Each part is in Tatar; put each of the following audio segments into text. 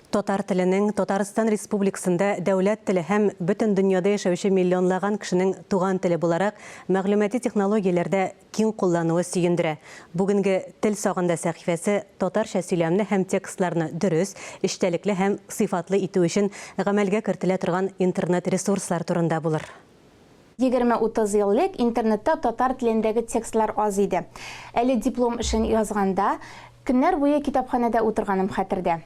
Татар теленең Татарстан Республикасында дәүләт теле һәм бөтен дөньяда яшәүче миллионлаган кешенең туган теле буларак мәгълүмати технологияләрдә киң куллануы сөендерә. Бүгенге Тел сагында сәхифәсе татарча сөйләмне һәм текстларны дөрес, эчтәлекле һәм сыйфатлы итү өчен гамәлгә кертелә торган интернет-ресурслар турында булыр. Егерме-утыз ел элек интернетта татар телендәге текстлар аз иде. Әле диплом эшен язганда, көннәр буе китапханәдә утырганым хәтердә.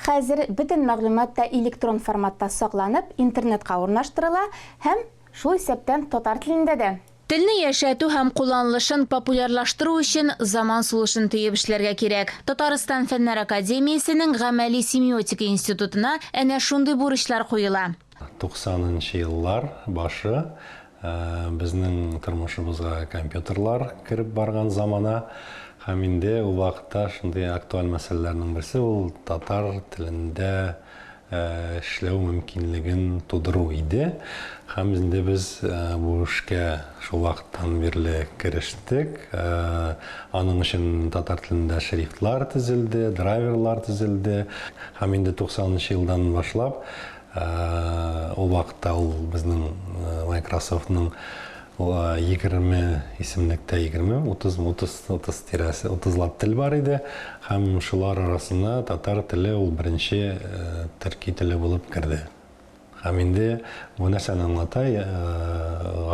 Хәзер бөтен мәгълүмат та электрон форматта сакланып, интернетка урнаштырыла һәм, шул исәптән, татар телендә дә. Телне яшәтү һәм кулланылышын популярлаштыру өчен заман сулышын төеп эшләргә кирәк. Татарстан Фәннәр академиясенең Гамәли семиотика институтына әнә шундый бурычлар куела. Туксанынчы еллар башы, безнең тормышыбызга компьютерлар кереп барган замана. Һәм инде ул вакытта шундый актуаль мәсьәләләрнең берсе ул татар телендә эшләү мөмкинлеген тудыру иде. Һәм инде без бу эшкә шул вакыттан бирле керештек. Аның өчен татар телендә шрифтлар төзелде, драйверлар төзелде. Һәм инде туксанынчы елдан башлап Ул вакытта ул безнең Майкрософтның егерме исемлектә, егерме, утыз, утыз, утыз тирәсе, утызлап тел бар иде. Һәм шулар арасына татар теле ул беренче төрки теле булып керде. Һәм инде бу нәрсәне аңлата,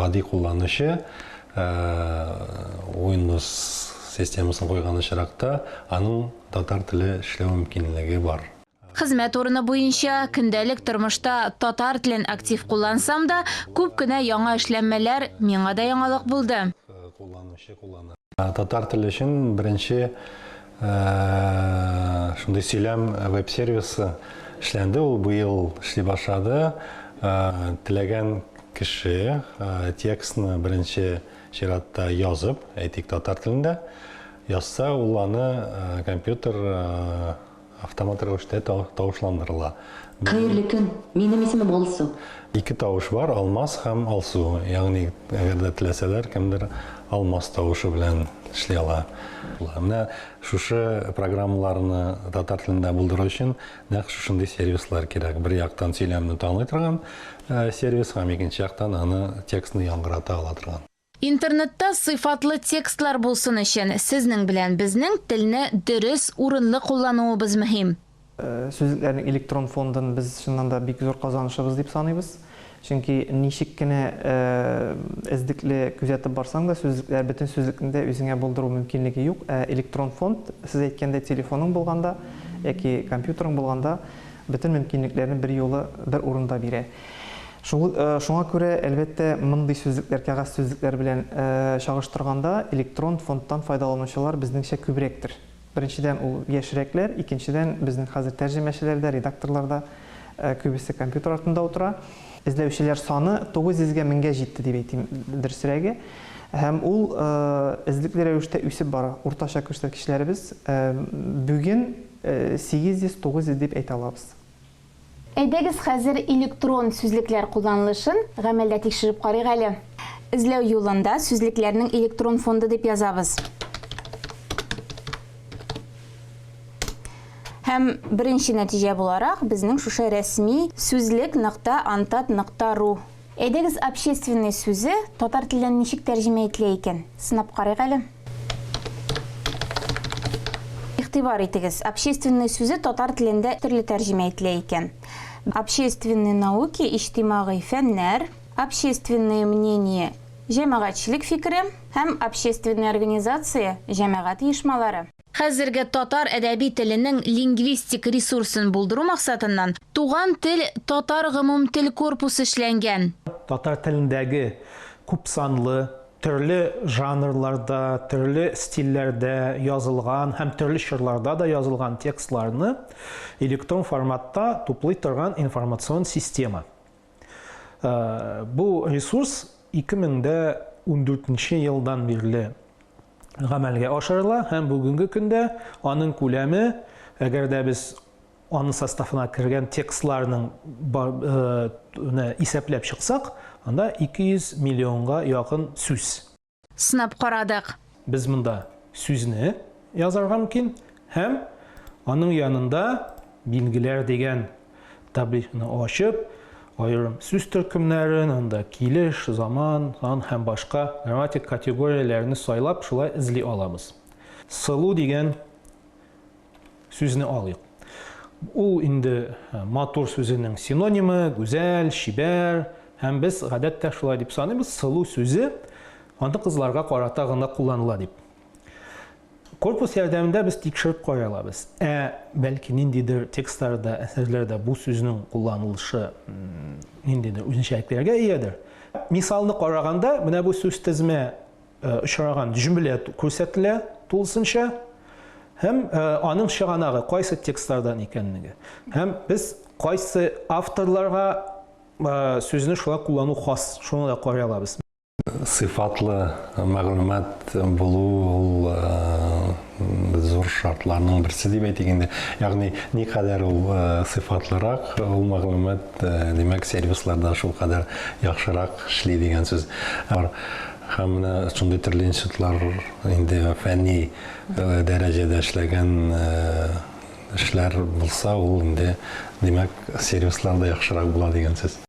гади кулланучы Windows системасын куйган очракта, аның татар теле эшләү мөмкинлеге бар. Хезмәт урыны буенча көндәлек тормышта татар телен актив куллансам да, күп кенә яңа эшләнмәләр миңа да яңалык булды. Татар теле өчен беренче шундый сөйләм веб-сервисы эшләнде, ул быел эшли башлады. Теләгән кеше текстны беренче чиратта язып, әйтик, татар телендә язса, ул аны компьютер Автомат рәвештә тавышландырыла. Хәерле көн! Минем исемем Алсу. Ике тавыш бар, Алмаз һәм Алсу. Ягъни, әгәр дә теләсәләр, кемдер Алмаз тавышы белән эшли ала. Менә шушы программаларны татар телендә булдыру өчен нәкъ шушындый сервислар кирәк. Бер яктан сөйләмне таный торган сервис һәм икенче яктан аны текстны яңгырата ала торган. Интернетта сыйфатлы текстлар булсын өчен, сезнең белән безнең телне дөрес, урынлы куллануыбыз мөһим. Сүзлекләрнең электрон фондын без чыннан да бик зур казанышыбыз дип саныйбыз. Чөнки ничек кенә эзлекле күзәтеп барсаң да, сүзлекләр, бөтен сүзлекне дә үзеңә булдыру мөмкинлеге юк. Ә электрон фонд, сез әйткәндәй, телефоның булганда яки компьютерың булганда, бөтен мөмкинлекләрне берьюлы бер урында бирә. Шул, шуңа күрә, әлбәттә, мондый сүзлекләр, кәгазь сүзлекләр белән чагыштырганда, электрон фондтан файдаланучылар безнеңчә күбрәктер. Беренчедән, ул яшьрәкләр, икенчедән, безнең хәзер тәрҗемәчеләр дә, редакторлар да күбесе компьютер артында утыра. Эзләүчеләр саны 900 гә 1000 гә җитте, дип әйтим, дөресрәге. Һәм ул эзлекле рәвештә үсеп бара. Уртача күрсәткечләребез бүген Сигез йөз, тугыз йөз дип әйтә алабыз. Әйдәгез хәзер электрон сүзлекләр кулланылышын гамәлдә тикшереп карыйк әле. Эзләү юлында сүзлекләрнең электрон фонды дип язабыз. Һәм беренче нәтиҗә буларак безнең шушы рәсми, Сүзлек нокта антат нокта ру. Әйдәгез общественный сүзе татар теленнән ничек тәрҗемә ителә икән? Сынап карыйк әле. Игътибар итегез, общественный сүзе татар телендә төрле тәрҗемә ителә икән. Общественные науки, иҗтимагый фәннәр, общественное мнение, җәмәгатьчелек фикере, һәм общественная организация, җәмәгать оешмалары. Хәзерге татар әдәби теленең лингвистик ресурсын булдыру максатыннан Туган тел татар гомумтел корпусы эшләнгән. Татар телендәге күпсанлы, төрле жанрларда, төрле стильләрдә язылган һәм төрле чорларда да язылган текстларны электрон форматта туплый торган информацион система. Э, бу ресурс 2014 елдан бирле гамәлгә ашырыла һәм бүгенге көндә аның күләме, әгәр дә без аның составына кергән текстларның э, исәпләп чыксак, анда 200 миллионга якын сүз. сынап карадык. Без монда сүзне язарга мөмкин һәм аның янында Билгеләр дигән таблицаны ачып, аерым сүз төркемнәрен, анда килеш, заман, сан һәм башка грамматик категорияләрне сайлап, шулай эзли алабыз. Сылу дигән Сүзне алыйк. Ул инде матур сүзенең синонимы, гүзәл, чибәр, һәм без гадәттә шулай дип саныйбыз, сылу сүзе аны кызларга карата гына кулланыла дип. Корпус ярдәмендә без тикшереп каралабыз. Ә бәлки ниндидер текстларда, әсәрләрдә бу сүзнең кулланылышы ниндидер үзенчәлекләргә иядер. Мисалны караганда, менә бу сүз тезме очраган җөмлә күрсәтелә тулысынча һәм аның чыганагы кайсы текстлардан икәнлеге. Һәм без кайсы авторларга сүзне шулай куллану хас, шуны да карый алабыз. Сыйфатлы мәгълүмат булу ул зур шартларның берсе дип әйтик инде. Ягъни никадәр ул сыйфатлырак ул мәгълүмат, димәк сервисларда шулкадәр яхшырак эшли дигән сүз. Һәм менә шундый төрле институтлар инде фәнни дәрәҗәдә эшләгән эшләр булса, ул инде, димәк, сервислар да яхшырак була дигән сүз.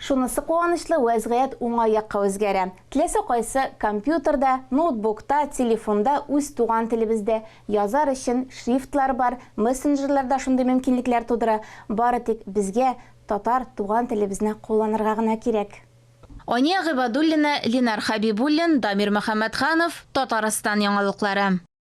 Шунысы куанычлы, вәзгыять уңай якка үзгәрә. Теләсә кайсы компьютерда, ноутбукта, телефонда үз туган телебездә язар өчен шрифтлар бар, мессенджерлар да шундый мөмкинлекләр тудыра, бары тик безгә татар туган телебезне кулланырга гына кирәк. Ания Гыйбадуллина, Линар Хәбибуллин, Дамир Мөхәммәтханов, Татарстан яңалыклары.